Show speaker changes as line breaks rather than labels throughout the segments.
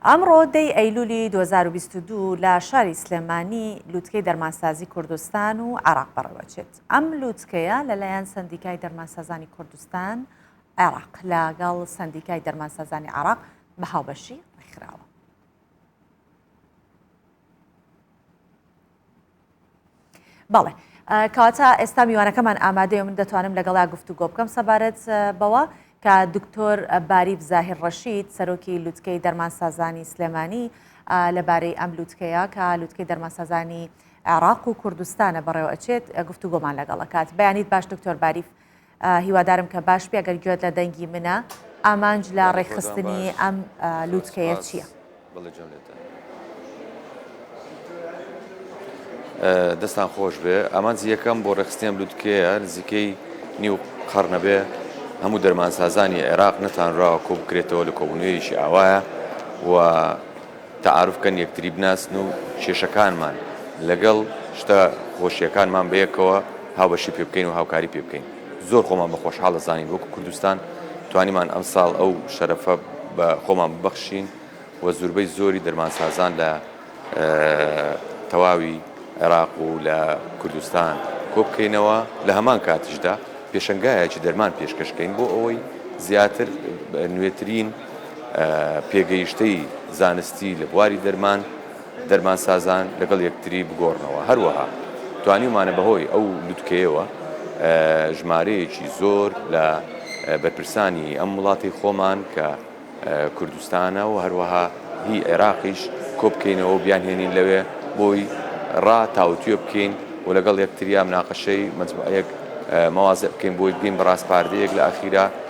ئەمڕۆ دەی ئەیلولی دوو هەزار و بیست و دوو لە شاری سلێمانی لووتکەی دەرمانسازی کوردستان و عێراق بەڕێوەچێت ئەم لووتکەیە لەلایەن سەندیکای دەرمانسازانی کوردستان عێراق لەگەڵ سەندیکای دەرمانسازانی عێراق بە هاوبەشی ڕێکخراوە بەڵێ کەواتە ئێستا میوانەکەمان ئامادەیە من دەتوانم لەگەڵا گفتوگۆ بکەم سەبارەت بەوە کە دکتۆر باریف زاهر ڕەشید سەرۆکی لوتکەی دەرمان سازانی سلێمانی لەبارەی ئەم لوتکەیە کە لوتکەی دەرمان سازانی عێراق و کوردستانە بەڕێوە ئەچێت گفتوگۆمان لەگەڵەکات بەیانیت باش دکتۆر باریف هیوادارم کە باش بی ئەگەر گوێت لە دەنگی منە ئامانج لە ڕێکخستنی ئەم لووتکەیە چییە؟
دەستان خۆش بێ ئامانجی یەکەم بۆ ڕێخستیان لووتکەیە نزیکەی نیو قەرنەبێ هەموو دەرمانسازانی عێراق نەتانراوە کۆ بکرێتەوە لە کۆبنوێریشی ئاوایە و تەعاروف کەن یەکتری بناسن و کێشەکانمان لەگەڵ شتە خۆشیەکانمان بەیەکەوە هاوبەشی پێ بکەین و هاوکاری پێ بکەین زۆر خۆمان بە خۆشحاڵ دەزانین وەکو کوردستان توانیمان ئەمساڵ ئەو شەرەفە بە خۆمان ببەخشین و زوربەی زۆری دەرمانسازان لە تەواوی عێراق و لە کوردستان کۆبکەینەوە لە هەمان کاتیشدا پێشەنگایەکی دەرمان پێشکەش کەین بۆ ئەوەی زیاتر نوێترین پێگەیشتەی زانستی لە بواری دەرمان، دەرمانسازان لەگەڵ یەکتری بگۆڕنەوە، هەروەها توانیومانە بەهۆی ئەو لوتکەیەوە ژمارەیەکی زۆر لە بەرپرسانی ئەم وڵاتی خۆمان کە کوردستانە و هەروەها هی عێراقیش کۆبکەینەوە و بیانهێنین لەوێ بۆی ڕا تاوتوێ بکەین و لەگەڵ یەکتریا مناقەشەی مەجموعەیەک مواضع بکەین بۆی بگەین بە ڕاسپاردەیەک لە ئاخیرا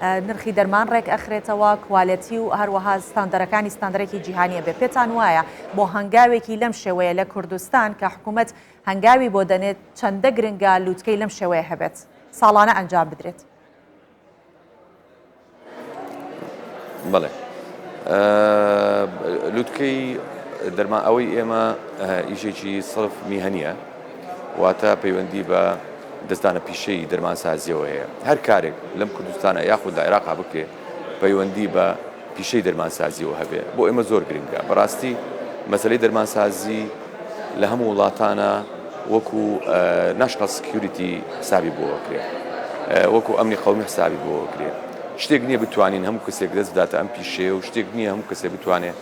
نرخی دەرمان ڕێک ئەخرێتەوە، کوالێتی و هەروەها ستاندەرەکانی ستاندەرێکی جیهانی ئەبێ. پێتان وایە بۆ هەنگاوێکی لەم شێوەیە لە کوردستان کە حکوومەت هەنگاوی بۆ دەنێت چەندە گرنگە لووتکەی لەم شێوەیە هەبێت ساڵانە ئەنجام بدرێت؟
بەڵێ لوتکەی دەرما ئەوەی ئێمە ئیشێکی سڵف میهنە واتە پەیوەندی بە دەزدانە پیشەیی دەرمانسازیەوە هەیە. هەر کارێک لەم کوردستانە یاخود لە عێراقا بکرێ پەیوەندی بە پیشەی دەرمانسازیەوە هەبێ بۆ ئێمە زۆر گرنگە. بەڕاستی مەسەلەی دەرمانسازی لە هەموو وڵاتانا وەکو ناشناڵ سکیوریتی حسابی بۆ ئەکرێ. وەکو ئەمنی قەومی حسابی بۆ ئەکرێ. شتێک نیە بتوانین هەموو کەسێک دەست بداتە ئەم پیشەیە و شتێک نیە هەموو کەسێ بتوانێ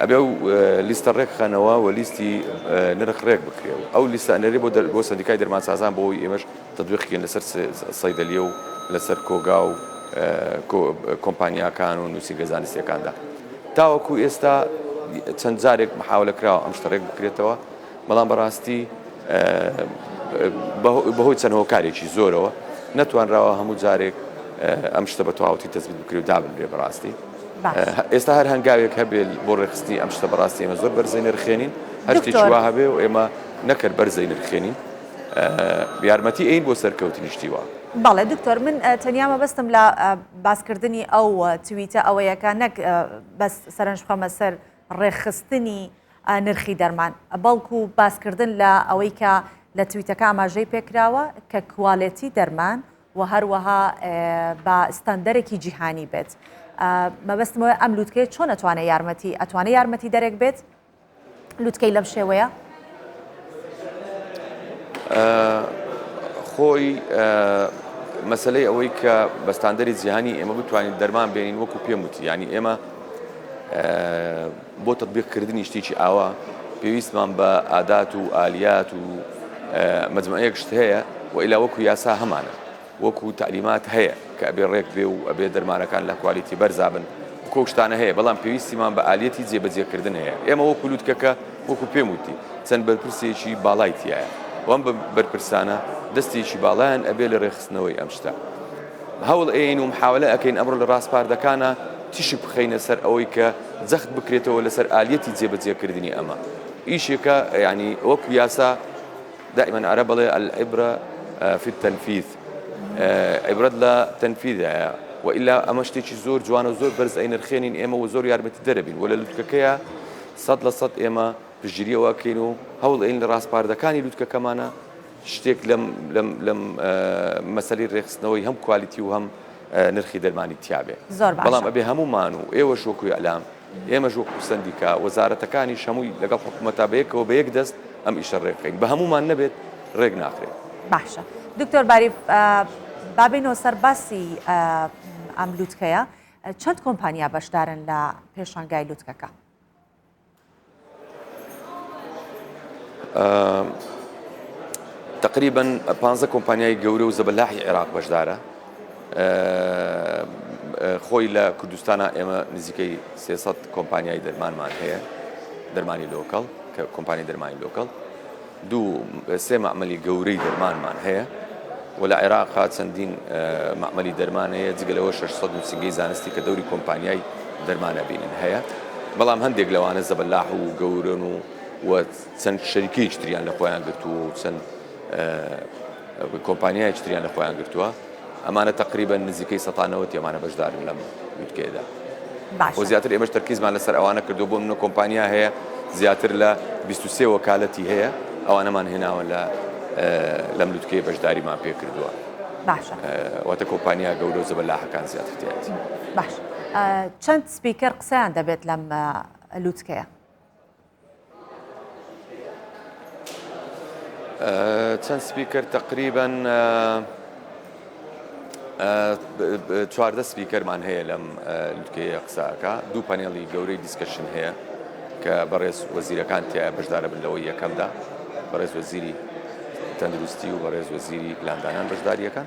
ئەبێ ئەو لیستە ڕێکخەنەوە و لیستی نرخ ڕێک بکرێ و ئەو لیستە ئەنێرێ بۆ بۆ سەندیکای دەرمانسازان بۆ ئەوەی ئێمەش تەتبیق بکەین لەسەر سەیدەلیە و لەسەر کۆگا و کۆمپانیاکان و نووسینگە زانستییەکاندا تاوەکو ئێستا چەند جارێک محاولە کراوە ئەم شتە ڕێک بکرێتەوە. بەڵام بەڕاستی بەهۆی چەند هۆکارێکی زۆرەوە نەتوانراوە هەموو جارێک ئەم شتە بە تەواوەتی تەسبیت بکرێ و دابنرێ بەڕاستی ئێستا هەر هەنگاوێک هەبێت بۆ ڕێخستنی ئەم شتە بەڕاستی ئێمە زۆر بەرزەی نرخێنین هەرتێکی وا هەبێ و ئێمە نەکرد بەرزەی نرخێنین یارمەتی ئەین بۆ سەرکەوتنیشتی وە بەڵێ دکتۆر من
تەنیا مەبەستم لە باسکردنی ئەو تویتە ئەوەیەکە نەک بەس سەرنج بخەمە سەر ڕێخستنی نرخی دەرمان بەڵکو باسکردن لە ئەوەی کە لە تویتەکە ئاماژەی پێکراوە کە کوالێتی دەرمان و هەروەها بە ستاندەرێکی جیهانی بێت مەبەستمەوە ئەم لووتکەیە چۆن ئەتوانێت یارمەتی ئەتوانێت یارمەتی دەرێک بێت لووتکەی لەم شێوەیە خۆی مەسلەی ئەوەی کە بەستاندەری جیهانی ئێمە بتوانین دەرمان بێنین وەکو پێم وتی ینی ئێمە بۆ تەتبیق کردنی شتێکی ئاوا پێویستمان بە ئادات و ئالیات و مجموعەیەک شت هەیە و ئیلا وەکو یاسا هەمانە وەکو تعلیمات هەیە کە ئەبێ ڕێک بێ و ئەبێ دەرمانەکان لە کوالیتی بەرزابن وەکو ئەو
شتانە هەیە بەڵام پێویستیمان بە ئالیەتی جێبەجێکردن هەیە ئێمە وەکو لوتکەکە وەکو پێم وتی چەند بەرپرسێکی باڵای تایە وەم بەرپرسانە دەستێکی باڵایان ئەبێ لە ڕێخستنەوەی ئەم شتە. هەوڵ ئەیەین و محاولە ئەکەین ئەمڕۆ لە ڕاسپاردەکانا تیشک بخەینە سەر ئەوەی کە جەخت بکرێتەوە لەسەر ئالیەتی جێبەجێ کردنی ئەمە ئیشێکە یانی وەکو یاسا دائما عەرەب بڵێ العبرە فی التنفیذ عبرەت لە تەنفیدایە و ئیلا ئەمە شتێکی زۆر جوان و زۆر بەرز ئەی نرخێنین ئێمە و زۆر یارمەتی دەرەبین و لە لوتکەکەیە سەد لە سەد ئێمە پژیریەوەکەین و هەوڵ ئەین لە ڕاسپاردەکانی لوتکەکەمانە شتێک لەم لەم لەم مەسەلی ڕێخستنەوەی هەم کوالیتی و هەم نرخی دەرمانی تیاابێ بەڵام ئەبێ هەمومان و ئێوە شۆکوی ئەلام ئێمە ژۆک و سندیکا وەزارەتەکانی شەمووی لەگەڵ حکوومەتە بەیەکەوە بە یەک دەست ئەم ئیشە ڕێکەین بە هەمومان نەبێت ڕێک ناخرێت باشە
دکتۆر باری بابینەوە سەر باسی ئەم لووتکەیە چەند کۆمپانیا بەشدارن لە پێشانگای لووتکەکە
تقریبن پانزە کۆمپانیای گەورە و زەبەلاحی عێراق بەشدارە خۆی لە کوردستانە ئێمە نزیکەی سێسەد کۆمپانیای دەرمانمان هەیە دەرمانی لۆکەڵ کە کۆمپانی دەرمانی لۆکەڵ دوو سێ مەعمەلی گەورەی دەرمانمان هەیە و لە عێراقا چەندین مەعمەلی دەرمان هەیە، جگە لەوە شەش سەد نووسینگەی زانستی کە دەوری کۆمپانیای دەرمان ئەبینن هەیە، بەڵام هەندێک لەوانە زەبەلاح و گەورەن و و چەند شەریکەیەکی تریان لە خۆیان گرتووە و چەند کۆمپانیایەکی تریان لە خۆیان گرتووە. ئەمانە تەقریبەن نزیکەی سەتا نەوەتی ئەمانە بەشدارن لەم لوتکەیەدا بۆ زیاتر ئێمەش تەرکیزمان لەسەر ئەوانە کردو بۆ منە کۆمپانیا هەیە زیاتر لە 23 وەکالەتی هەیە ئەوانەمان هێناوە لە لەم لوتکەی بەشداریمان پێ کردووە باشە
واتە کۆمپانیا
گەورە و زەبەلاحەکان زیاتر تێت باش
چەند سپیکەر قسەیان دەبێت لەم لوتکەیە
چەند سپیکەر تەقریبەن چواردە سپیکەرمان هەیە لەم لوتکەیە قساکە دوو پەنێڵی گەورەی دیسکشن هەیە کە بەڕێز وەزیرەکان تیا بەشدارە بن لەوەی یەکەمدا بەڕێز وەزیری تەندروستی و بەڕێز وەزیری پلاندانان بەشداریەکان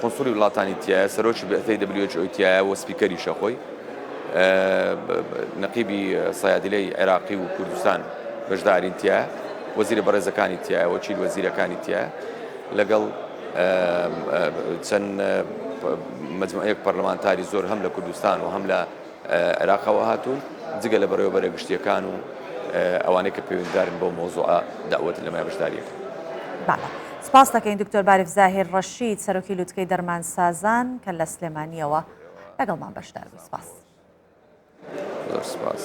قونسوڵی وڵاتانی تیایە، سەرۆکی بئثەی WHO تیایە و سپیکەریشە خۆی. نەقیبی سەیادلەی عێراقی و کوردستان بەشدارین تیایە، وەزیرە بەڕێزەکانی تیایە، وەکیل وەزیرەکانی تیایە لەگەڵ چەند مجموعەیەک پەرلەمانتاری زۆر هەم لە کوردستان و هەم لە عێراقەوە هاتوون، جگە لە بەڕێوەبەرە گشتییەکان و ئەوانەی کە پەیوەندیدارن بەو مەوزوعە دەعوەت لە مای بەشدارییەکەن. بەڵێ.
سپاس دەکەین دکتۆر باریف زاهیر ڕەشید، سەرۆکی لوتکەی دەرمانسازان کە لە سلێمانییەوە لەگەڵمان بەشدار
بوو.
سپاس. زۆر
سپاس.